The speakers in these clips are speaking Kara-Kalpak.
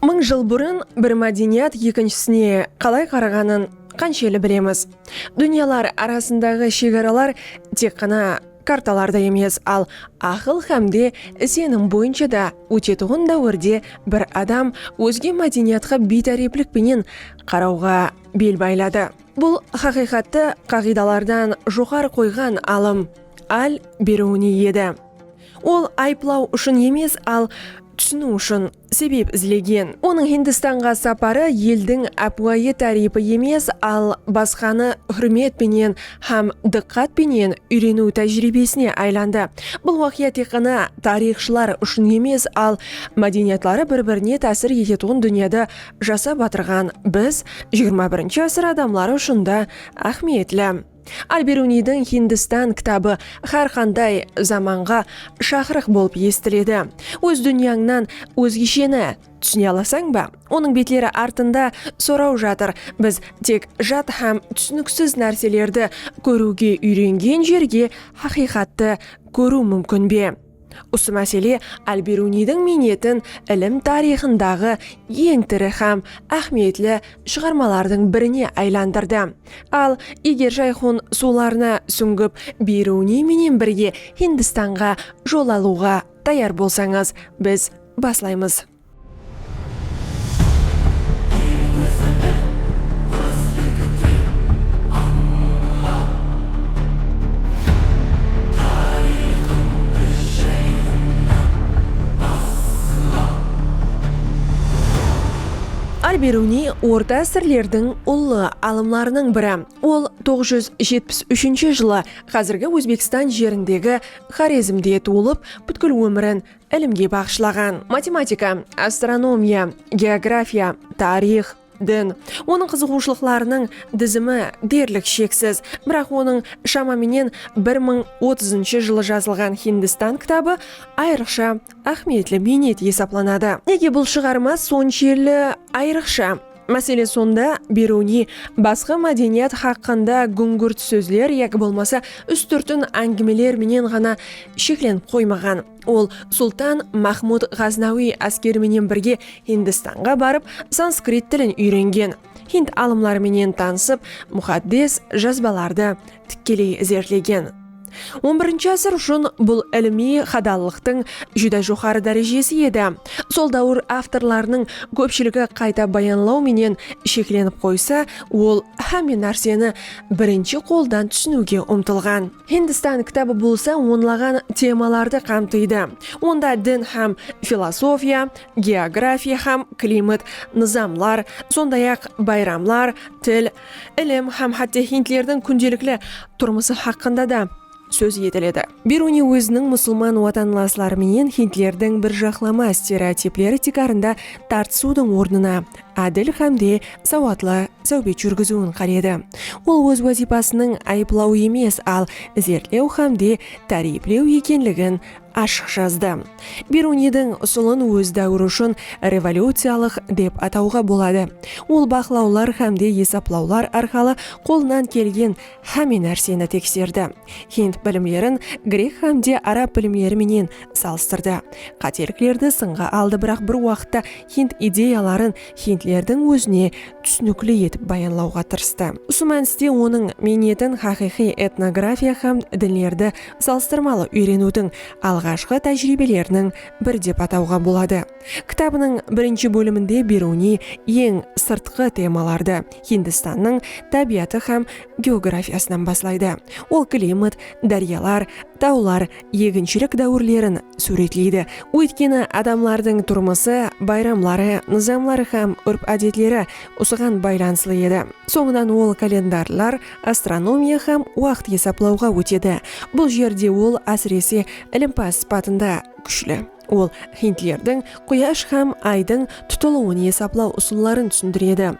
Mıń jıl burın bir mádeniyat ekinshisine qalay qaraǵanın qansheli bilemiz? Dúnyalar arasındaǵı shegaralar tek ǵana kartalarda emes, al aqıl hám de isenim boyınsha da ótetuǵın dáwirde bir adam ózge mádeniyatqa biytáreplik penen qarawǵa bel bayladı. Bul haqıyqattı qaǵıydalardan joqarı qoyǵan alım Al-Beruniy edi. Ol ayıplaw ushın emes, al túsiniw ushın sebep izlegen. Onıń Hindistanǵa saparı eldiń ápiwayı táriypi emes, al basqanı húrmet penen hám dıqqat penen úyreniw tájiriybesine aylandı. Bul waqıya tek ǵana tariyxshılar ushın emes, al mádeniyatları bir-birine tásir etetuǵın dúnyada jasap atırǵan biz, xxi asır adamları ushın da áhmiyetli. Al-Beruniydiń Hindistan kitabı hár qanday zamanǵa shaqırıq bolıp esitiledi. Óz dúnyańnan ózgesheni túsine alasań ba? Onıń betleri artında soraw jatır, biz tek jat hám túsiniksiz nárselerdi kóriwge úyrengen jerge haqıyqattı kóriw múmkin be? Usı másele Al-Beruniydiń miynetin ilim tariyxındaǵı eń tiri hám áhmiyetli shıǵarmalardıń birine aylandırdı. Al, eger Jayxun suwlarına súńgip, Beruniy menen birge Hindistanǵa jol alıwǵa tayar bolsańız, biz baslaymız. Al-Beruniy orta ásirlerdiń ullı alımlarınıń biri. Ol toǵız júz jetpis úshinshi jılı házirgi Ózbekstan jerindegi Xorezmde tuwılıp, pútkil ómirin Ilimge baǵıshlaǵan, matematika, astronomiya, geografiya, tariyx, din, onıń qızıǵıwshılıqlarınıń dizimi derlik sheksiz. Biraq onıń shama menen bir mıń otızınshı jılı jazılǵan Hindistan kitabı ayrıqsha áhmiyetli miynet esaplanadı. Nege bul shıǵarma sonshelli ayrıqsha? Másele sonda, Beruniy basqa mádeniyat haqqında gúńgirt sózler yaki bolmasa ústirtin áńgimeler menen ǵana sheklenip qoymaǵan. Ol Sultan Mahmud Ǵaznawiy áskeri menen birge Hindistanǵa barıp, sanskrit tilin úyrengen, hind alımları menen tanısıp, muxaddes jazbalardı tikkeley izertlegen. On birinshi ásir ushın bul ilimiy hadallıqtıń júdá joqarı dárejesi edi. Sol dáwir avtorlarınıń kópshiligi qayta bayanlaw menen sheklenip qoysa, ol hámme nárseni birinshi qoldan túsiniwge umtılǵan. Hindistan kitabı bolsa onlaǵan temalardı qamtıydı. Onda din hám filosofiya, geografiya hám klimat, nızamlar, sonday-aq, bayramlar, til, ilim hám hátte hindlerdiń kúndelikli turmısı haqqında da sóz etiledi. Beruniy óziniń musılman watanlasları menen hindlerdiń bir jaqlama stereotipleri tiykarında tartısıwdıń ornına ádil hám de sawatlı sáwbet júrgiziwin qáledi. Ol óz wazıypasınıń ayıplaw emes, al izertlew hám de táriyiplew ekenligin ashıq jazdı. Beruniydiń usılın óz dáwiri ushın revolyuciyalıq dep atawǵa boladı. Ol baqlawlar hámde esaplawlar arqalı qolınan kelgen háme nárseni tekserdi. Hind bilimlerin grek hámde arab bilimleri menen salıstırdı. Qáteliklerdi sınǵa aldı biraq bir waqıtta hind ideyaların hindlerdiń ózine túsinikli etip bayanlawǵa tırıstı. Usı mániste onıń miynetin haqıyqıy etnografiya hám dinlerdi salıstırmalı úyreniwdiń alǵashqı tájiriybeleriniń biri dep atawǵa boladı. Kitabınıń birinshi bóliminde Beruniy eń sırtqı temalardı, Hindistannıń tábiyatı hám geografiyasınan baslaydı. Ol klimat, dáryalar, tawlar, eginshilik dáwirlerin súwretleydi, óytkeni adamlardıń turmısı, bayramları, nızamları hám úrp-ádetleri usıǵan baylanıslı edi. Sońınan ol kalendarlar, astronomiya hám waqıt esaplawǵa ótedi. Bul jerde ol, ásirese, ilimpaz sıpatında kúshli. Ol hindlerdiń Quyash hám Aydıń tutılıwın esaplaw usılların túsindiredi.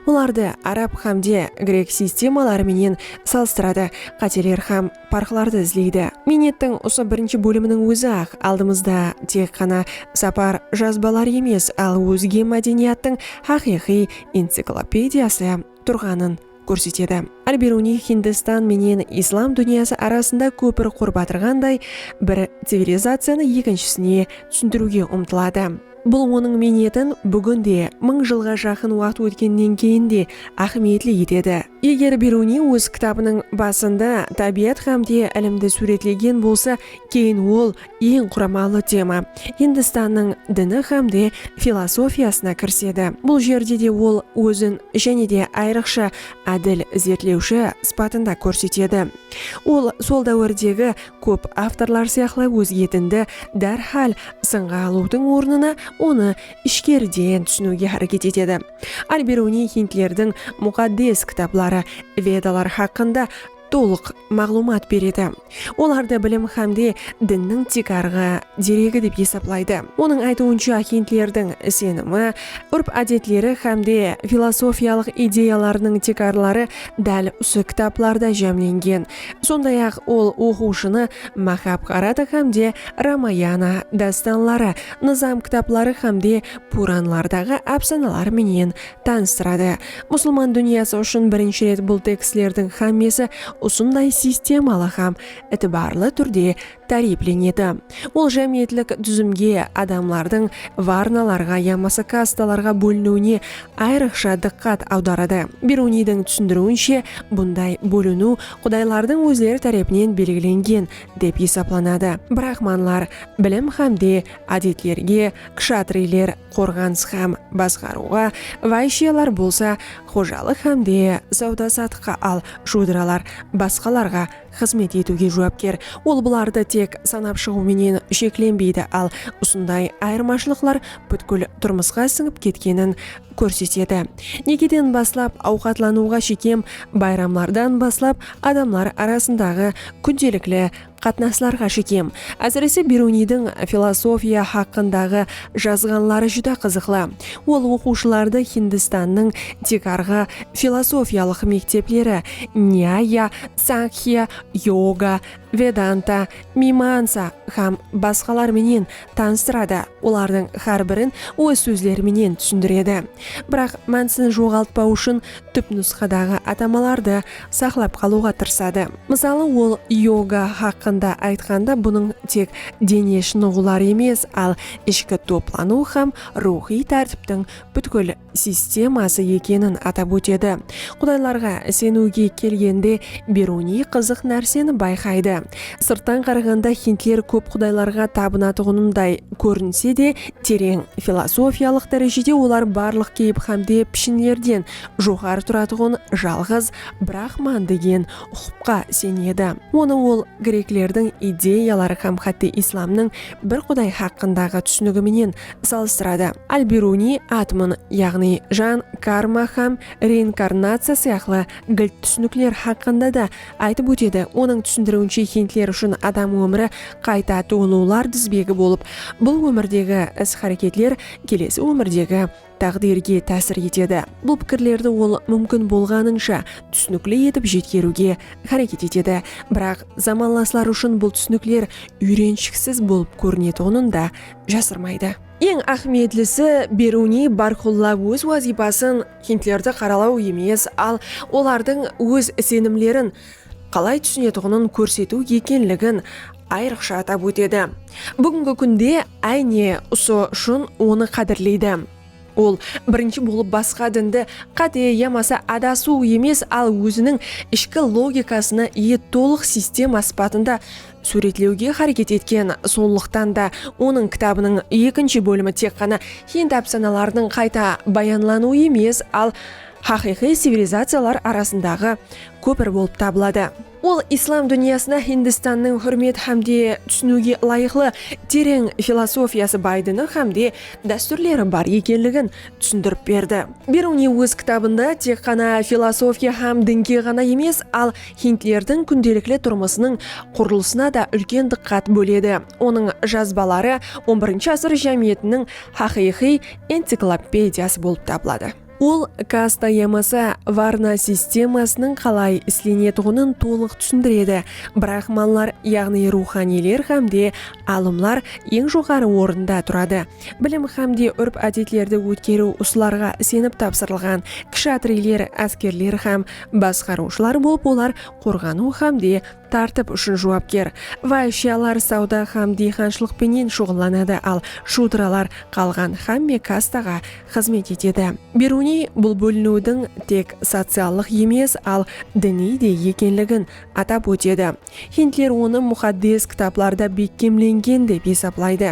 Olardı arab hámde grek sistemaları menen salıstıradı, qáteler hám parqlardı izleydi. Miynettiń usı birinshi bóliminiń ózi-aq aldımızda tek ǵana sapar jazbaları emes, al ózge mádeniyattıń haqıyqıy enciklopediyası. turǵanın kórsetedi. Al-Biruniy Hindistan menen Islam dúnyası arasında kópir qurıp atırǵanday, bir civilizaciyanı ekinshisine túsindiriwge umtıladı. Bul onıń miynetin búgin de, mıń jılǵa jaqın waqıt ótkennen keyin de áhmiyetli etedi. Eger Biruniy óz kitabınıń basında tábiyat hám de ilimdi súwretlegen bolsa, keyin ol Eń quramalı tema Hindistannıń dini hám de filosofiyasına kirisedi. Bul jerde de ol ózin jáne de ayrıqsha ádil izertlewshi sıpatında kórsetedi. Ol sol dáwirdegi kóp avtorlar sıyaqlı ózge dindi dárhál sınǵa alıwdıń ornına onı ishkeriden túsiniwge háreket etedi. Al-Biruniy hindlerdiń muqaddes kitapları, Vedalar haqqında tolıq maǵlıwmat beredi, olardı bilim hámde dinniń tiykarǵı deregi dep esaplaydı. Onıń aytıwınsha, hindlerdiń isenimi, úrp-ádetleri hámde filosofiyalıq ideyalarınıń tiykarları dál usı kitaplarda jámlengen, sonday-aq, ol oqıwshını Mahabharata hámde Ramayana dástanları, Nızam kitapları hámde Puranlardaǵı ápsanalar menen Tanıstıradı. Musılman dúnyası ushın birinshi ret bul tekstlerdiń xámmesi usınday sistemalı hám itibarlı túrde táriyplenedi. Ol jámiyetlik dúzimge, adamlardıń varnalarǵa yamasa kastalarǵa bóliniwine ayrıqsha dıqqat awdaradı. Beruniydiń túsindiriwinshe, bunday bóliniw qudaylardıń ózleri tárepinen belgilengen dep esaplanadı, brahmanlar, bilim hám de ádetlerge, kshatriyler, qorǵanıs hám basqarıwǵa, vayshyalar bolsa xojalıq hám de sawda-satıqqa al shudiralar basqalarǵa xızmet etiwge juwapker. Ol bulardı tek sanap shıǵıw menen sheklenbeydi, al usınday ayırmashılıqlar pútkil turmısqa sińip ketkenin kórsetedi. Nekeden baslap awqatlanıwǵa shekem, bayramlardan baslap adamlar arasındaǵı kúndelikli Qatnaslarǵa shekem. Ásirese Beruniydiń filosofiya haqqındaǵı jazǵanları júdá qızıqlı. Ol oqıwshılardı Hindistannıń tiykarǵı filosofiyalıq mektepleri, Nyaya, Sankhya, Yoga, Vedanta, Mimansa hám basqalar menen tanıstıradı, olardıń hár birin óz sózleri menen túsindiredi. Biraq, mánisin joǵaltpaw ushın túpnusqadaǵı atamalardı saqlap qalıwǵa tırısadı. Mısalı, ol yoga haqqında aytqanda bunıń tek dene shınıǵıwlar emes, al ishki toplanıw hám ruwxıy tártiptiń pútkil sisteması ekenin atap ótedi. Qudaylarǵa iseniwge kelgende, Beruniy qızıq nárseni bayqaydı. Sırttan qaraǵanda hindler kóp qudaylarǵa tabınatuǵınınday kórinse de, tereń filosofiyalıq dárejede olar barlıq keyip hámde pishinlerden joqarı turatuǵın jalǵız Brahman degen uqıpqa isenedi. Onı ol greklerdiń ideyaları hám hátte islamnıń bir quday haqqındaǵı túsinigi menen salıstıradı. Al-Biruniy atmn, yaǵnıy jan, karma hám reinkarnaciya sıyaqlı gilt túsinikler haqqında da aytıp ótedi, onıń túsindiriwinshe hindler ushın adam ómiri qayta tuwılıwlar dizbegi bolıp, bul ómirdegi is-háreketler kelesi ómirdegi táǵdirge tásir etedi. Bul pikirlerdi ol múmkin bolǵanınsha túsinikli etip jetkeriwge háreket etedi. Biraq, zamanlasları ushın bul túsinikler úyrenshikisiz bolıp kórinetuǵının da jasırmaydı. Eń áhmiyetlisi, Beruniy bárqulla óz wazıypasın hindlerdi qaralaw emes, al olardıń óz isenimlerin, qalay túsinetuǵının kórsetiw ekenligin ayrıqsha atap ótedi. Búgingi kúnde áyne usı ushın onı qádirleydi. Ol birinshi bolıp basqa dindi qáte yamasa adasıw emes, al óziniń ishki logikasına iye tolıq sistema sıpatında súwretlewge háreket etken. Sonlıqtan da onıń kitabınıń ekinshi bólimi tek ǵana hind ápsanalarınıń qayta bayanlanıwı emes, al, Haqıyqıy civilizaciyalar arasındaǵı kópir bolıp tabıladı. Ol islam dúnyasına Hindistannıń húrmet hámde túsiniwge ılayıqlı tereń filosofiyası baydını hámde dástúrleri bar ekenligin túsindirip berdi. Beruniy óz kitabında tek ǵana filosofiya hám dinge ǵana emes, al hindlerdiń kúndelikli turmısınıń qurılısına da úlken dıqqat bóledi. Onıń jazbaları on birinshi ásir jámiyetiniń haqıyqıy enciklopediyası bolıp tabıladı. Ol kasta yamasa varna sistemasınıń qalay islenetuǵının tolıq túsindiredi. Brahmanlar, yaǵnıy ruwxaniyler hámde alımlar eń joqarı orında turadı. Bilim hámde úrp-ádetlerdi ótkeriw usılarǵa isenip tapsırılǵan. Kshatriyler, áskerler hám basqarıwshılar bolıp olar qorǵanıw hámde Tártip ushın juwapker. Váyshiyalar sawda hám diyxanshılıq penen shuǵıllanadı, al shúdralar qalǵan hámme kastaǵa xızmet etedi. Beruniy bul bóliniwdiń tek sociallıq emes, al diniy de ekenligin atap ótedi. Hindler onı muxaddes kitaplarda bekkemlengen dep esaplaydı.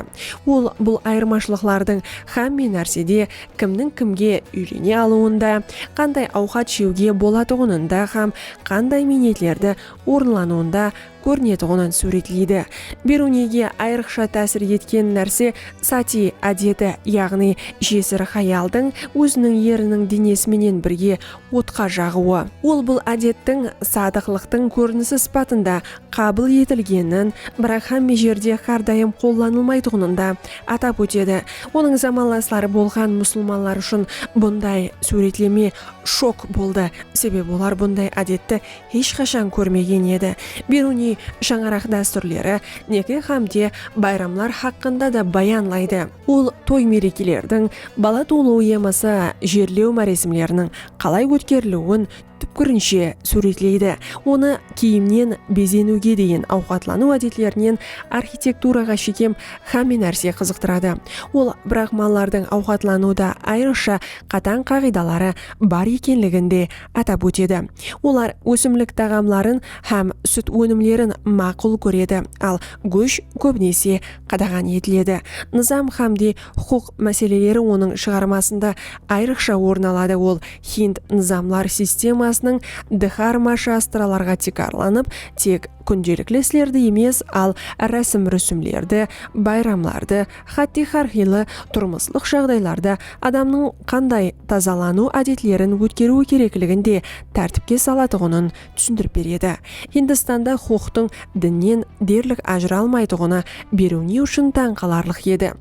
Ol bul ayırmashılıqlardıń hámme nársede kimniń kimge úylene alıwında, qanday awqat jewge bolatuǵınında hám qanday miynetlerdi orınlanıwında kórinetuǵının súwretleydi. Beruniyge ayrıqsha tásir etken nárse sati ádeti, yaǵnıy jesir hayaldıń óziniń eriniń denesi menen birge otqa jaǵıwı. Ol bul ádettiń sadıqlıqtıń kórinisi sıpatında qabıl etilgenin, biraq hámme jerde hár dayım qollanılmaytuǵının da atap ótedi. Onıń zamanlasları bolǵan musılmanlar ushın bunday súwretleme shok boldı, sebebi olar bunday ádetti hesh qashan kórmegen edi. Beruniy shańaraq dástúrleri, neke hámde bayramlar haqqında da bayanlaydı. Ol toy-merekelerdiń, bala tuwılıw yamasa jerlew máresimleriniń qalay ótkeriliwin túpkirinshe súwretleydi, onı kiyimnen bezeniwge deyin awqatlanıw ádetlerinen arxitekturaǵa shekem xámme nárse qızıqtıradı. Ol brahmanlardıń awqatlanıwda ayrıqsha qatań qaǵıydaları bar ekenligin de atap ótedi. Olar ósimlik taǵamların hám sút ónimlerin maqul kóredi, al gósh kóbinese qadaǵan etiledi. Nızam hámde huqıq máseleleri onıń shıǵarmasında ayrıqsha orın aladı, ol hind nızamlar sistemasınıń dxarma shastralarǵa tiykarlanıp, tek kúndelikli islerdi emes, al rásim-rúsimlerdi, bayramlardı, hátte hár qıylı turmıslıq jaǵdaylarda adamnıń qanday tazalanıw ádetlerin ótkeriwi kerekligin de tártipke salatuǵının túsindirip beredi. Hindistanda huqıqtıń dinnen derlik ajıralmaytuǵını beriw ne ushın tań qalarlıq edi?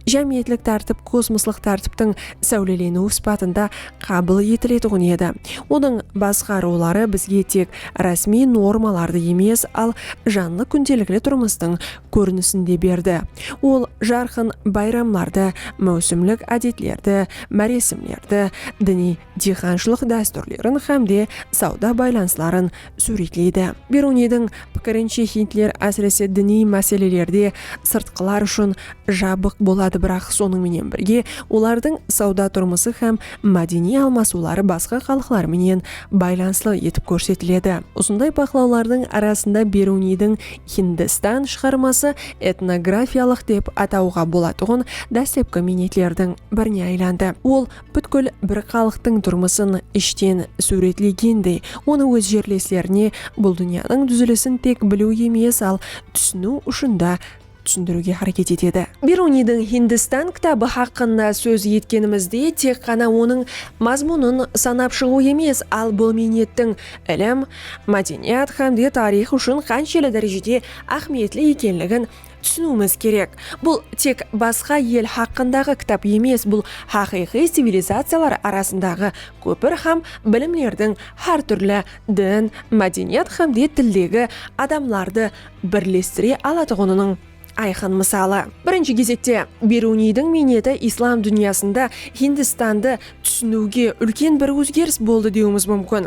Jámiyetlik tártip kosmoslıq tártiptiń sáwleleniwi sıpatında qabıl etiletuǵın edi. Onıń basqa ruwları bizge tek rásmiy normalardı emes, al janlı kúndelikli turmıstıń kórinisin de berdi. Ol jarqın bayramlardı, máwsimlik ádetlerdi, máresimlerdi, diniy. diyqanshılıq dástúrlerin hám de sawda baylanısların súwretleydi. Beruniydiń pikirinshe hindler ásirese diniy máselelerde sırtqılar ushın jabıq boladı biraq sonıń menen birge olardıń sawda turmısı hám mádeniy almasıwları basqa xalıqlar menen baylanıslı etip kórsetiledi. Usınday baqlawlardıń arasında Beruniydiń Hindistan shıǵarması etnografiyalıq dep atawǵa bolatuǵın dáslepki miynetlerdiń birine aylandı. Ol. Pútkil bir xalıqtıń turmısın ishten súwretlegendey, onı óz jerleslerine bul dúnyanıń dúzilisin tek biliw emes, al túsiniw ushın da túsindiriwge háreket etedi. Biruniydiń Hindistan kitabı haqqında sóz etkenimizde tek ǵana onıń mazmunın sanap shıǵıw emes, al bul miynettiń ilim, mádeniyat hám de tariyx ushın qanshelli dárejede áhmiyetli ekenligin Túsiniwimiz kerek, bul tek basqa el haqqındaǵı kitap emes, bul haqıyqıy civilizaciyalar arasındaǵı kópir hám bilimlerdiń hár túrli din, mádeniyat hám de tildegi adamlardı birlestire alatuǵınınıń ayqın mısalı. Birinshi gezekte, Beruniydiń miyneti islam dúnyasında Hindistandı túsiniwge úlken bir ózgeris boldı dewimiz múmkin.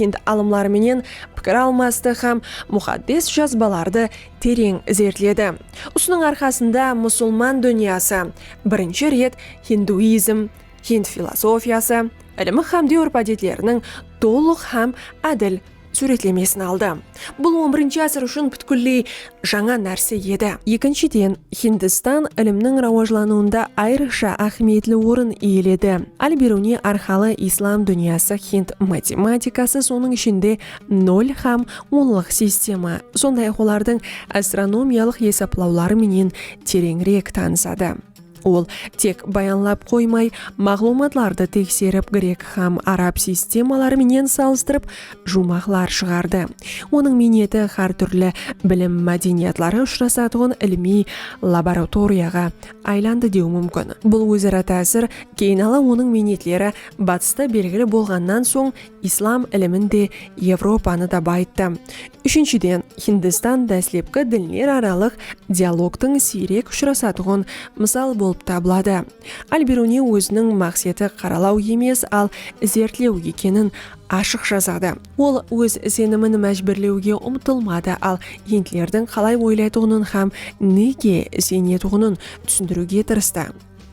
hind alımları menen pikir almastı hám Muxaddes Jazbalardı tereń izertledi. Usınıń arqasında musılman dúnyası birinshi ret hinduizm, hind filosofiyası, ilimi hám dewr-pádetleriniń tolıq hám ádil súwretlemesin aldı. Bul on birinshi ásir ushın pútkilley jańa nárse edi. Ekinshiden, Hindistan ilimniń rawajlanıwında ayrıqsha áhmiyetli orın iyeledi. Al-Biruniy arqalı islam dúnyası hind matematikası, sonıń ishinde, nol hám onlıq sistema, sonday-aq olardıń astronomiyalıq esaplawları menen tereńirek tanısadı. Ol tek bayanlap qoymay, maǵlıwmatlardı tekserip, grek hám arab sistemaları menen salıstırıp, juwmaqlar shıǵardı. Onıń miyneti hár túrli bilim mádeniyatları ushırasatuǵın ilimiy laboratoriyaǵa aylandı dew múmkin. Bul óz-ara tásir keyin ala onıń miynetleri Batısta belgili bolǵannan soń, Islam ilimin de, Evropanı da bayıttı. Úshinshiden, Hindistan dáslepki dinleraralıq dialogtıń siyrek ushırasatuǵın mısal bolıp tabıladı. Al-Biruniy óziniń maqseti qaralaw emes, al izertlew ekenin ashıq jazadı. Ol óz isenimin májbúrlewge umtılmadı, al hindlerdiń qalay oylaytuǵının hám nege isenetuǵının túsindiriwge tırıstı.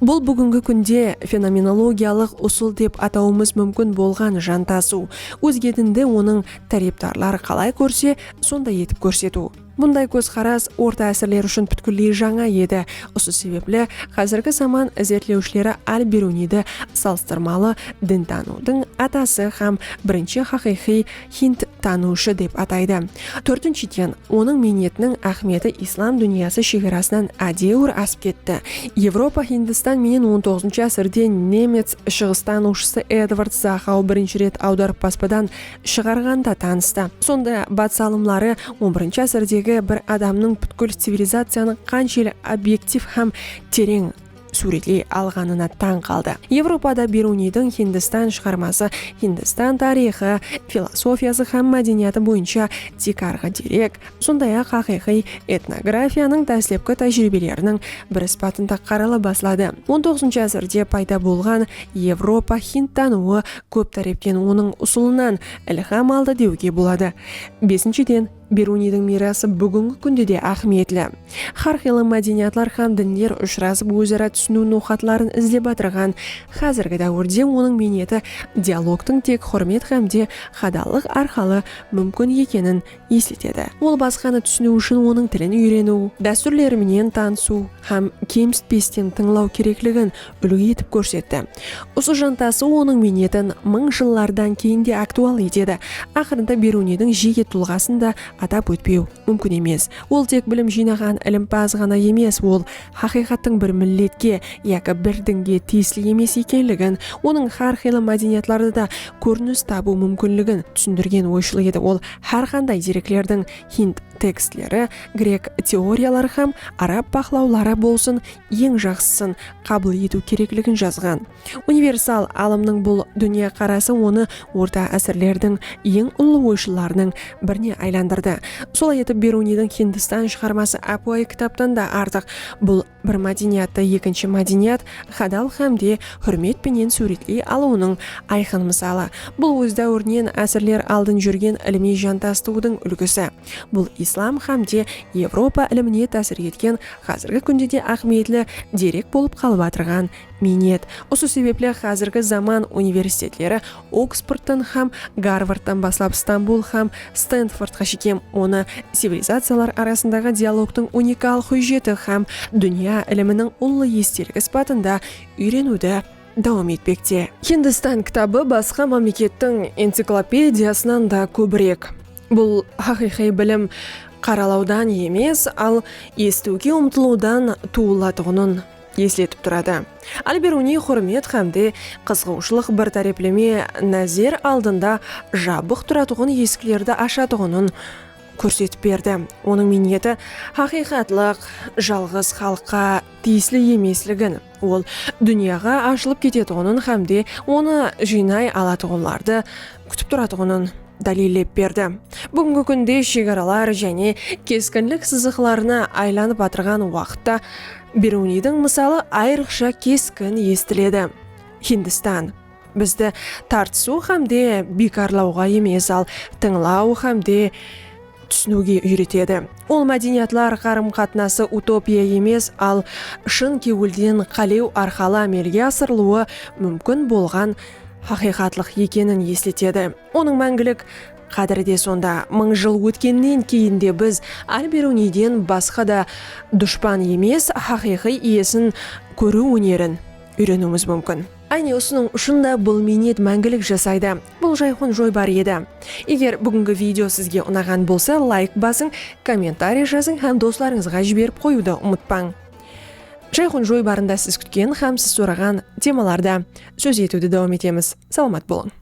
Bul búgingi kúnde fenomenologiyalıq usıl dep atawımız múmkin bolǵan jantasıw, ózgedindi onıń tárepdarları qalay kórse, sonday etip kórsetiw. Bunday kózqaras orta ásirler ushın pútkilley jańa edi, usı sebepli xázirgi zaman izertlewshileri Al-Beruniydi salıstırmalı dintanıwdıń atası hám birinshi haqıyqıy Hind tanıwshı dep ataydı. Tórtinshiden, onıń miynetiniń áhmiyeti islam dúnyası shegarasınan ádewir asıp ketti. Evropa Hindistan menen on toǵızınshı ásirde nemec shıǵıstanıwshısı Edvard Zaxau birinshi ret awdarıp baspadan shıǵarǵanda tanıstı. Sonda batıs alımları on birinshi ásirdegi bir adamnıń pútkil civilizaciyanıń qansheli obyektiv hám tereń súwretley alǵanına tań qaldı. Evropada Beruniydiń Hindistan shıǵarması, Hindistan tariyxı, filosofiyası hám mádeniyatı boyınsha tiykarǵı derek, sonday-aq haqıyqıy etnografiyanıń dáslepki tájiriybeleriniń bir sıpatında qarala basladı. On toǵızınshı ásirde payda bolǵan Evropa hind tanıwı kóp tárepten onıń usılınan ilham aldı dewge boladı. Besinshiden. Beruniydiń miyrası búgingi kúnde de áhmiyetli. Hár qıylı mádeniyatlar hám dinler ushırasıp óz-ara túsiniw noqatların izlep atırǵan házirgi dáwirde onıń miyneti dialogtıń tek húrmet hámde hadallıq arqalı múmkin ekenin esletedi. Ol basqanı túsiniw ushın onıń tilin úyreniw, dástúrleri menen tanısıw hám kemsitpesten tıńlaw kerekligin úlgi etip kórsetti. Usı jantası onıń miynetin mıń jıllardan keyin de aktual etedi. Aqırında Beruniydiń jeke tulǵasın da atap ótpew múmkin emes. Ol tek bilim jıynaǵan ilimpaz ǵana emes, ol haqıyqattıń bir milletke yaki bir dinge tiyisli emes ekenligin, onıń hár qıylı mádeniyatlarda da kórinis tabıw múmkinligin túsindirgen oyshıl edi. Ol hár qanday dereklerdiń, hind tekstleri, grek teoriyaları hám arab baqlawları bolsın, eń jaqsısın qabıl etiw kerekligin jazǵan. Universal alımnıń bul dúnya qarası onı orta ásirlerdiń eń ullı oyshıllarınıń birine aylandırdı. Solay etip Beruniydiń Hindistan shıǵarması ápiwayı kitaptan da artıq, bul bir mádeniyattı ekinshi mádeniyatt hadal hám de húrmet penen súwretley alıwınıń ayqın mısalı. Bul óz dáwirinen ásirler aldın júrgen ilimiy jantastıwdıń úlgisi. Bul islam hám de Evropa ilimine tásir etken házirgi kúnde de áhmiyetli derek bolıp qalıp atırǵan miynet. Usı sebepli házirgi zaman universitetleri Oksfordtan hám Garvardtan baslap Stambul hám Stenfordqa shekem onı civilizaciyalar arasındaǵı dialogtıń unikal hújjeti hám dúnya iliminiń ullı estelik sıpatında úyreniwdi dawam etpekte. Hindistan kitabı basqa mámlekettiń enciklopediyasınan da kóbirek. Bul haqıyqıy bilim qaralawdan emes, al esitiwge umtılıwdan tuwılatuǵının esletip turadı. Al-Beruniy húrmet hám de qızıǵıwshılıq bir tárepleme názer aldında jabıq turatuǵın esiklerdi ashatuǵının kórsetip berdi. Onıń miyneti haqıyqatlıq jalǵız xalıqqa tiyisli emesligin, Ol dúnyaǵa ashılıp ketetuǵının hámde onı jıynay alatuǵınlardı kútip turatuǵının dáliyllep berdi. Búgingi kúnde shegaralar jáne keskinlik sızıqlarına aylanıp atırǵan waqıtta Beruniydiń mısalı ayrıqsha keskin esitiledi. Hindistan. Bizdi tartısıw hám de biykarlawǵa emes, al tıńlaw hám de túsiniwge úyretedi. Ol mádeniyatlar qarım-qatnası utopiya emes, al shın kewilden qálew arqalı ámelge asırılıwı múmkin bolǵan haqıyqatlıq ekenin esletedi. Onıń máńgilik qádiri de sonda. Mıń jıl ótkennen keyin de biz Al-Beruniyden basqa da dushpan emes, haqıyqıy iyesin kóriw ónerin úyreniwimiz múmkin. Áne usınıń ushın da bul miynet máńgilik jasaydı. Bul jayxun joybar edi. Eger búgingi video sizge unaǵan bolsa layk basıń, kommentariy jazıń hám doslarıńızǵa jiberip qoyıwdı umıtpań. Jayxun joybarında siz kútken hám siz soraǵan temalarda sóz etiwdi dawam etemiz. Salamat bolıń!